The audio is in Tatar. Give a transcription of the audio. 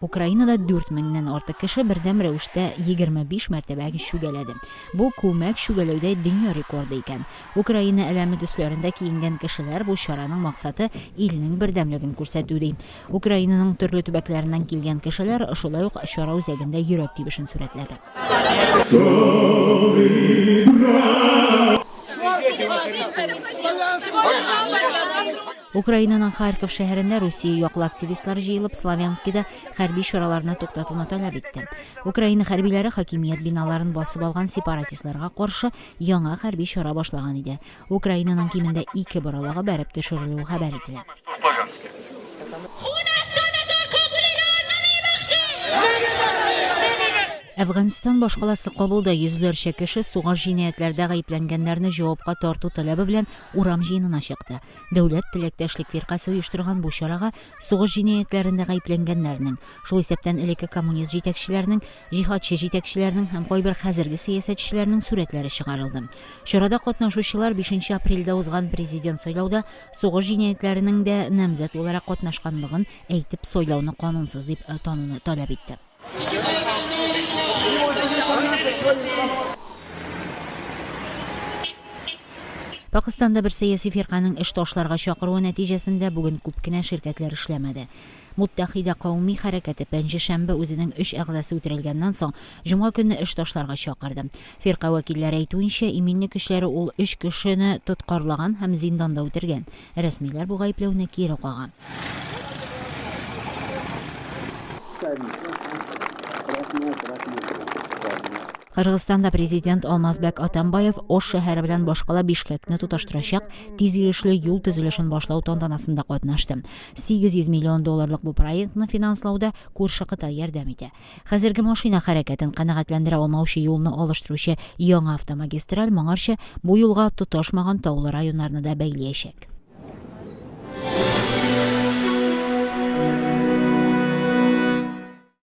Украинада 4 меңнән артык кеше бердәм рәвештә 25 мәртәбә чүгәләде. Бу күмәк чүгәләүдә дөнья рекорды икән. Украина әләме төсләрендә киенгән кешеләр бу чараның максаты илнең бердәмлеген күрсәтү ди. Украинаның төрле төбәкләреннән килгән кешеләр шулай ук чара үзәгендә йөрәк тибешен сурәтләде. Украинаның Харьков шәһәрендә Русия яклы активистлар җыелып Славянскида хәрби чараларны туктатуны таләп итте. Украина хәрбиләре хакимият биналарын басып алган сепаратистларга каршы яңа хәрби чара башлаган иде. Украинаның кимендә ике боралага бәреп төшерелүе хәбәр ителә. Әфганстан башкаласы Кабулда йөзләрчә кеше сугыш җинаятьләрдә гаепләнгәннәрне җавапка тарту таләбе белән урам җыенына чыкты. Дәүләт теләктәшлек фиркасы оештырган бу чарага сугыш җинаятьләрендә гаепләнгәннәрнең, шул исәптән элекке коммунист җитәкчеләрнең, җиһадчы җитәкчеләрнең һәм кайбер хәзерге сәясәтчеләрнең сурәтләре чыгарылды. Чарада катнашучылар бишенче апрельдә узган президент сайлауда сугыш җинаятьләренең дә намзәт буларак катнашканлыгын әйтеп, сайлауны канунсыз дип тануны таләп итте. Пакистанда бер сәяси фирканың эш ташларга чакыруы нәтиҗәсендә бүген күп кенә ширкәтләр эшләмәде. Муттәхидә кауми хәрәкәте пәнҗешәмбе үзенең өч әгъзасы үтерелгәннән соң, җомга көнне эш ташларга чакырды. Фирка вәкилләре әйтүенчә, иминлек көчләре ул өч кешене тоткарлаган һәм зинданда үтергән. Рәсмиләр бу гаепләүне кире кага. Кыргызстанда президент Алмазбәк Атамбаев Ош шәһәре белән башкала Бишкәкне тоташтырачак тиз йөрешле юл төзелешен башлау тантанасында катнашты. 800 миллион долларлык бу проектны финанслауда күрше Кытай ярдәм итә. Хәзерге машина хәрәкәтен канәгатьләндерә алмаучы юлны алыштыручы яңа автомагистраль моңарчы бу юлга тоташмаган таулы районнарны да бәйлиячәк.